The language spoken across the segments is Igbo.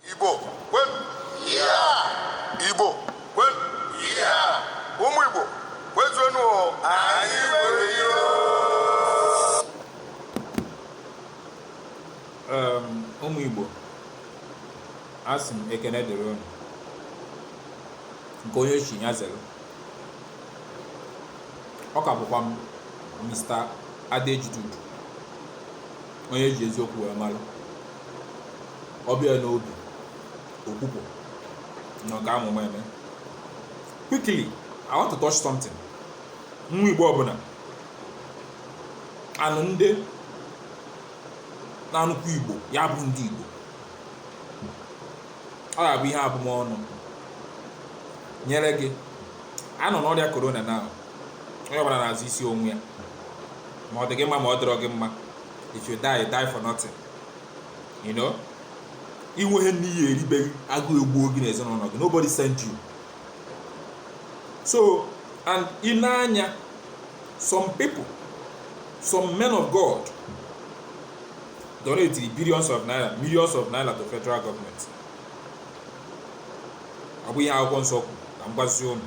Igbo kwenu! Igbo kwenu! Ụmụ Igbo kwezuenu o! Anyị nwere ihe o! Um, ụmụ Igbo asị m ekene dịrị unu nke onye chi ya zere ọ ka bụkwa m Mr. Adejudu onye e ji eziokwu wee mara ọbịa n'obi okwupụ na ọga amụma eme quickly i want to touch something nwa igbo ọbụla anụ ndị na-anụkwu igbo ya bụ ndị igbo ọ ga-abụ ihe abụmọnụ nyere gị a nọ n'ọrịa korona na onye ọbụla na-azọ isi onwe ya ma ọ dị gị mma ma ọ dịrọ gị mma if you die die for nothing you know i nweghị nni ị ya-eri be gị agụụ egbuo gị n'ezinụlọ gị nobody send you so and i nee anya some people some men of God donated billions of naira millions of naira to federal government ọ bụ ihe akwụkwọ nsọ kwuru ka m gwazie unu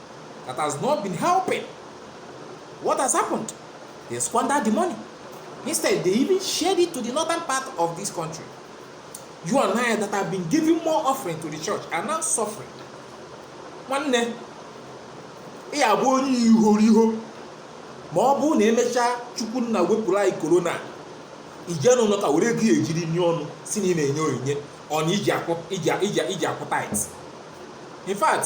that has not been helping. What has happened? They squandered the money. Instead, they even shared it to the northern part of this country. You and I that have been giving more offering to the church are now suffering. Nwanne, ị ya-abụ onye ihoriho ma ọ bụ na emechaa chukwu nna wepụrụ anyị korona i jee n'ụlọ ụka were ego ị ya-eji rinye ọnụ sị na ị na-enye onyinye or na i ji akwụ tithe in fact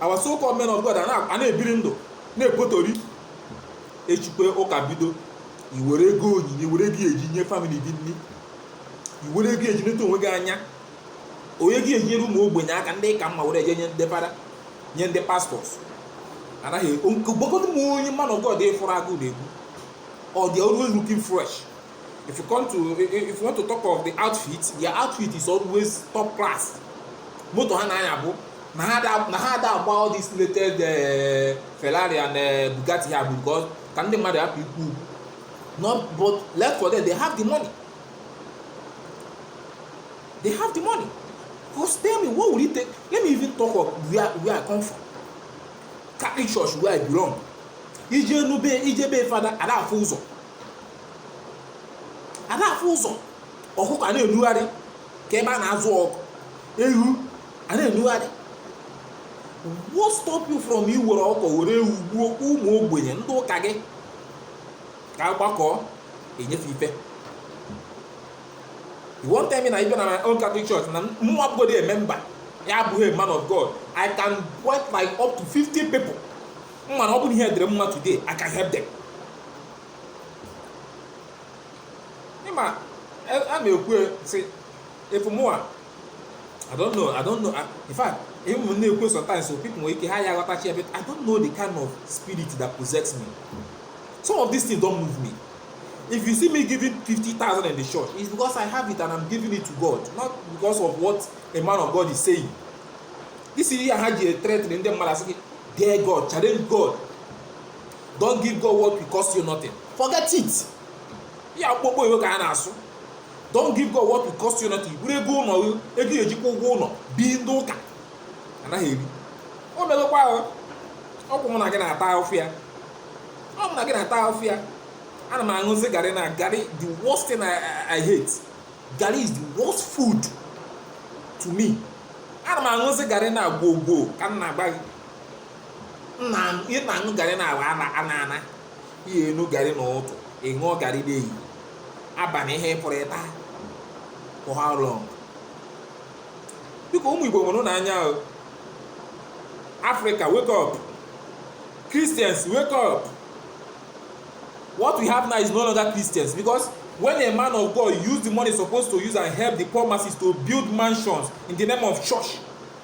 our so called men of God a na- a na-ebiri ndụ na-ekpotori echikwe ụka bido i were ego onyinye i were ego eji nye family gị nni i were ego eji neta onwe gị anya onye gị eji nyere ụmụ ogbenye aka ndị ị ka mma were jee nye ndị fada nye ndị pastors anaghị gwagodu m onye man of God ị fụrụ agụụ na-egbu or they are always looking fresh if you come to if you want to talk of the outfit their outfit is always top class moto ha na-anya bụ na ha da na ha da agba all this latest eh, Ferrari and eh, Bugatti a bụ because ka ndị mmadụ hapụ ikwu okwu not but left for them they have the money they have the money because tell me what will it take let me even talk of where where I come from Catholic church where I belong i jee nụ be i jee be fada ada afụ ụzọ a da-afụ ụzọ ọkụkọ a na-enugharị ka ebe a na-azụ ọkụ ewu a na-enugharị what stop you from iwere ọkụkọ were ewu gbuo ụmụ ogbenye ndị ụka gị ka agbakọ enyefe ife you wan tell me na even na my own catholic church na mụ abụgodi a member ya abụghị a man of god i can point like up to 50 people m ma na ọ bụrụ ihe dịrị m mma today i can help them ịma e, a na-ekwu e, sị ị fụ mụwa I don't know I don't know I, in fact even m na-ekwu e sometimes some people nwere ike ha ya aghọtachi ebe I don't know the kind of spirit that possess me some of these things don move me if you see me giving fifty thousand in the church it's because I have it and I'm giving it to God not because of what a man of God is saying this is ihe ha ji threaten ndị mmadụ asị gị dare God challenge God don't give God what will cost you nothing forget it ya akpụkpọ iwe ka a na-asụ don't give God what will cost you nothing buru ego ụlọ ego e ji akwụ ụgwọ ụlọ bi ndị ụka anaghị eri o megokwa ahụ ọ kwa mụ na gị na-ata ahụfụ ya ọ mụ na gị na-ata ahụfụ ya ana m aṅụzi garị na garị the worst thing I, I, I hate garị is the worst food to me ana m aṅụzi garị na gwogwo ka m na-agba gị ị na-aṅụ garị na awa ana ana ana ị ya-aṅụ garị na ụtụtụ ị ṅụọ garị n'ehihie abalị ihe ị fụrụ ị taa for how long biko ụmụ igbo nwerenụ anya o africa wake up christians wake up what we have now is no longer christians because when a man of god use the money supposed to use and help the poor masses to build mansions in the name of church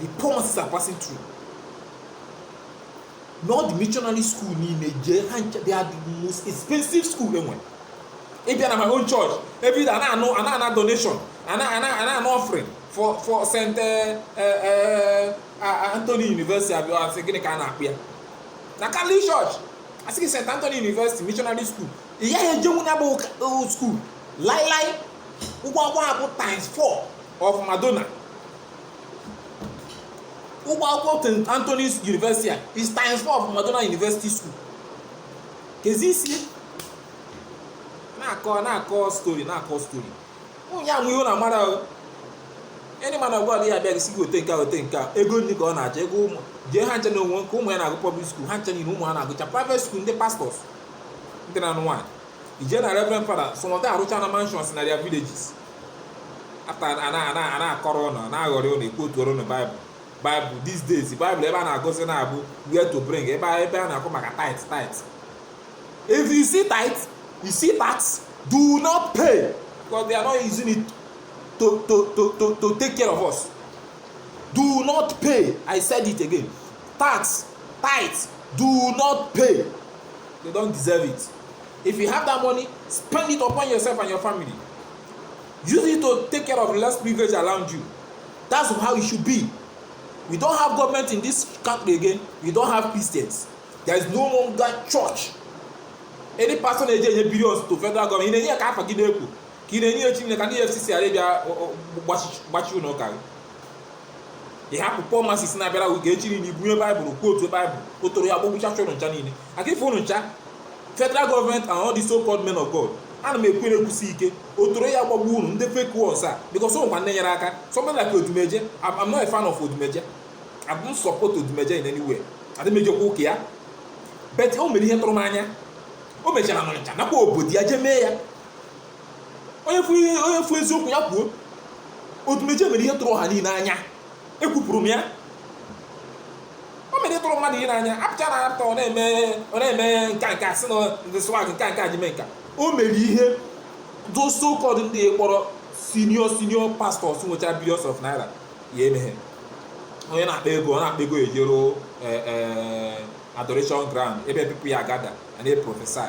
the poor masses are passing through not the missionary school niile jee ha ncha they are the most expensive school e nwe ị bịa na my own church every day a na-anụ a na-ana donation a na-ana offering for for st eh, eh, eh, anthony university abịa asị gịnị ka a na-akpọ ya na catholic church asị gị st anthony university missionary school ị gaghị ejenwu ya bụ school lailai ụgwọ akwụkwọ ha bụ times 4 of Madonna ụgwọ akwụkwọ St. Anthony's University a is times four of Madonna University School kezi isi na-akọ na-akọ story na-akọ story onye amụ ihe na mara ahụ any man of God ya abịa gị sị gị wote nke a wote nke a ego nri ka ọ na-achọ ego ụmụ jee ha ncha na o nwe nke ụmụ ya na-agụ public school ha ncha niile ụmụ ha na-agụcha private school ndị pastors ndị na-anụ nwaanyị ije na reverend fada some of them arụchana mansions na their villages after a na- a na- a na-akọrọ ụnụ a na-aghọrị ụnụ ekwotuoro ụnụ baịbụl baịbụl these days baịbụl ebe a na-agụzi na-abụ where to bring ebe a- ebe a na-akọ maka tithe tithe if you see tithe you see tax do not pay because they are not using it to to to to to take care of us do not pay i said it again tax tithe do not pay they don't deserve it If you have that money, spend it upon yourself and your family. Use it to take care of the less privilege around you. That's how it should be. We don't have government in this country again. We don't have Christians. There is no longer church. Any person na-eje enye billions to federal government, ị na-enye ka afa gị na-ekwu ka ị na-enye ya Chineke ka ndị EFCC ghara ịbịa gbachi ụlọ ụka gị. ị hapụ poor masses na-abịara gị ga-echi niile i bunye baịbụl quote baịbụl ọtọrọ ya gbagbucha ụnụ ncha niile aka ife ụnụ ncha federal government and all the so called men of god ana m ekwu ya ekwusi ike ọtọrọ ya gbagbu unu ndị fake ones because o nwekwa ndị nyere aka somebody like odumeje I'm, I'm not a fan of odumeje I don't support odumeje in any way adị m ejekwa ụka ya but o mere ihe tụrụ m anya o mechara n'ọnịcha nakwa obodo ya jee mee ya onye fụ ihe onye fụ eziokwu ya kwuo odumeje mere ihe tụrụ ọha niile n'anya ekwupụrụ m ya o mere ihe tụrụ mmadụ niile n'anya apụcha na apụta ọ na-eme ọ na-eme nka nka sị na ndị swag nka nka ji mee nka o mere ihe those so called ndị kpọrọ senior senior pastors nwechara billions of naira ya emeghe onye na-akpa ego ọ na-akpa ego ejero adoration ground ebe people ya gather and they prophesy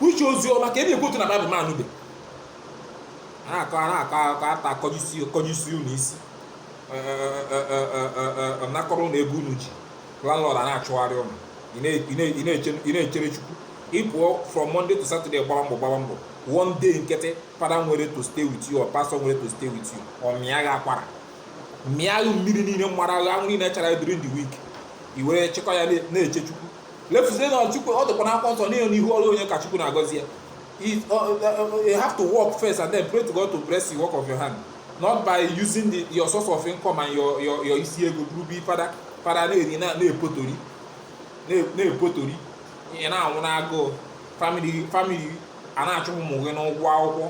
uche ozi ọma ka e na-ekwotu na baịbụl ma anụbe a na-akọ a na-akọ akọ ata akọjisi akọjisi unu isi nakọrọ ụnụ ego unu ji landlord a na-achụgharị ụnụ ị na- ị na- ị na-eche- ị na-echere chukwu ị pụọ from monday to saturday gbara mbọ gbara mbọ one day nkịtị fada nwere to stay with you or pastor nwere to stay with you ọ mịa gị akwara mịa gị mmiri niile mara gị anwụ niile chara during the week i were chịkọ ya na- na-eche chukwu lefuzie na chukwu ọ dịkwa n'akwụkwọ nsọ n'ihe n'ihu ọrụ onye ka chukwu na-agọzi ya It- ọ- ọ- ọ- you have to work first and then pray to god to bless the work of your hand not by using the, your source of income and your, your, your isi ego buru bi fada fada na-eri na- na-epotori na- na-epotori ị na-anwụ n'agụụ family family a na-achụ ụmụ gị n'ụgwọ akwụkwọ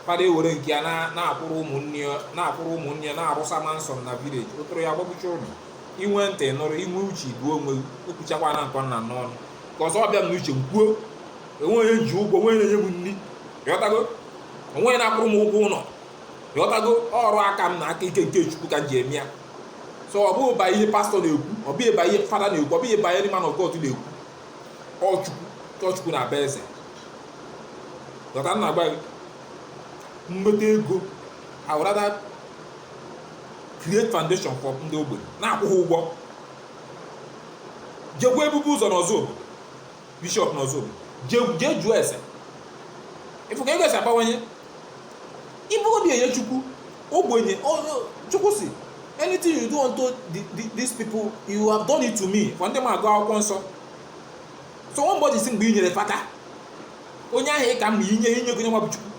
fada ewere nke ya na- na-akwụrụ ụmụnne ya na-akwụrụ ụmụnne ya na-arụsa mansion na village ọtọrọ ya gbagbucha ụnụ inwe ntị nụrụ inwe uche buo onwe gị ekwuchakwa na nke ọha n'ọnụ cos ọ bịa m n'uche m kwuo onweghị onye m ji ụgwọ onweghị na-enye m nri ịghọtago onweghị na-akwụrụ m ụgwọ ụlọ ịghọtago ọrụ aka m na aka ike nke chukwu ka m ji eme ya so ọ bụghị ba ihe pastọ na-ekwu ọ bụghị ba ihe fada na-ekwu ọ bụghị ba ihe man of God na-ekwu ọ chukwu na-aba eze ịghọta ihe m na-agwa gị m nweta ego I would rather create foundation for ndị ogbenye na-akwụ ha ụgwọ jekwa ebube ụzọ n'ọzụbụlụ bishọp n'ọzụbụlụ je- jee jụọ ese ịfụ ka ego esi abawanye ibu obi enye chukwu ogbenye onye- chukwu si anything you do unto the- the- these people you have done it to me for ndị ma agụ akwụkwọ nsọ so one body si mgbe i nyere fada onye ahụ ị ka mma inye ha inyego onye nwa bụ chukwu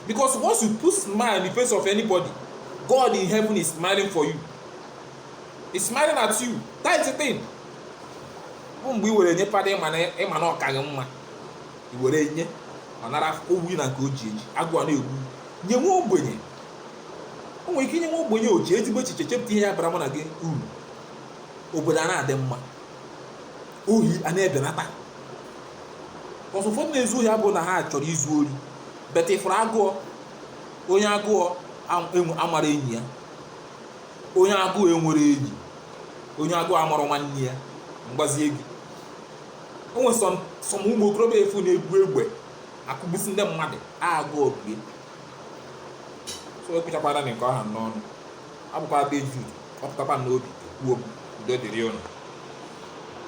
because once you put smile in the face of anybody God in heaven is smiling for you he's smiling at you that is the thing bụ mgbe i were nye fada ịma na ọ ka gị mma i were nye ọ nara ọ bụ na nke o ji eji agụụ na-egbu nye nwa ogbenye o nwere ike inye nwa ogbenye o ji ezigbo echiche chepụta ihe ya bara mụ na gị uru obodo a na-adị mma ohi a na-ebenata cos ụfọdụ na-ezu ohi abụrụ na ha chọrọ izu ori but ịfụrụ agụọ onye agụọ am- enwe- amara enyi ya onye agụụ enwere enyi onye agụụ amara nwanne ya m gwazie gị o nwere some ụmụ okorobịa ị fụ na-ebu egbe akụgbusi ndị mmadụ agụụ bụ ya so ekwuchakwara na nke ọha n'ọnụ abụkwa de jude ọpụtakwa n'obi ekwuo m udo dịrị ụnụ